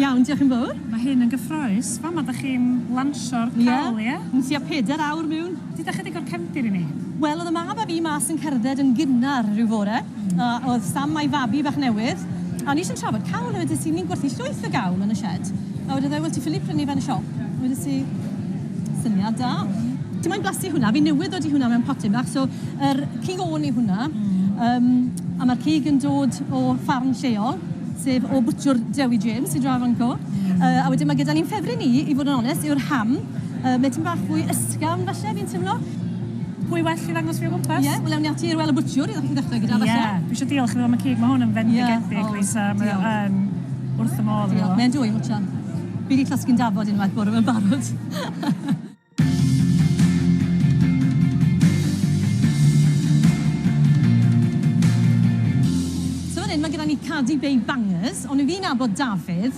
Iawn, diolch yn fowr. Mae hyn yn gyffrous. Fama dach chi'n lansio'r cawl, ie? Ie, yn tua pedair awr miwn. Deuda chydig o'r cefndir i ni. Wel, oedd y mab a fi mas yn cerdded yn gynnar ryw fore. A oedd Sam a'i fabi bach newydd. A o'n i jyst yn trafod cawl a wedes i ni'n gwerthu llwyth o gawl yn y sied. A wedodd e, wel ti ffili prynu fe yn y siop. Wedes i, syniad da. Ti moyn blasu hwnna? Fi newydd ddod i hwnna mewn potyn bach. So yr cig ôn yw hwnna. Yym a ma'r cig yn dod o ffarm lleol, sef o bwtsiwr Dewi James i Drafrancw. Yy a wedyn ma' gyda ni'n ffefryn ni, i fod yn onest, yw'r ham. Yy, mae tipyn bach fwy ysgafn falle, fi'n timlo. Pwy well i ddangos fi o gwmpas? Ie, wel ewn ni ati i'r Well a Butcher i ddechrau gyda falle. Ie, dwi eisiau diolch iddo am y cig, mae hwn yn fendigedig, yeah. Lisa, oh, mae o'n wrth y modd. Diolch, mae'n dwy, mwtio. Fi wedi clasgu'n dafod unwaith bore mewn barod. Mae gyda ni Cardi Bay Bangers, ond fi'n abod Dafydd,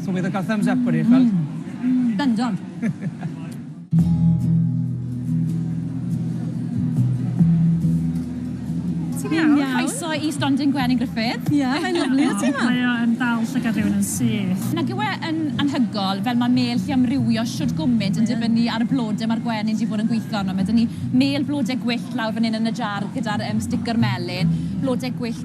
So bydd yn cael thumbs up wedi eich gweld. Mm. Bendant. Ti'n iawn? Iawn. Croeso i Stondin Gwenyn Gruffydd. Ie, yeah, mae'n lyflu o ti yma. Mae o yn dal llygad rhywun yn syth. Nag yw e yn anhygol fel mae mêl llu amrywio shwd gwmynt yn dibynnu ar y blode mae'r gwenyn 'di bod yn gweithio arno. Mae 'da ni mêl flode gwyllt lawr fan hyn yn y jar gyda'r yym sticker melyn, blode gwyllt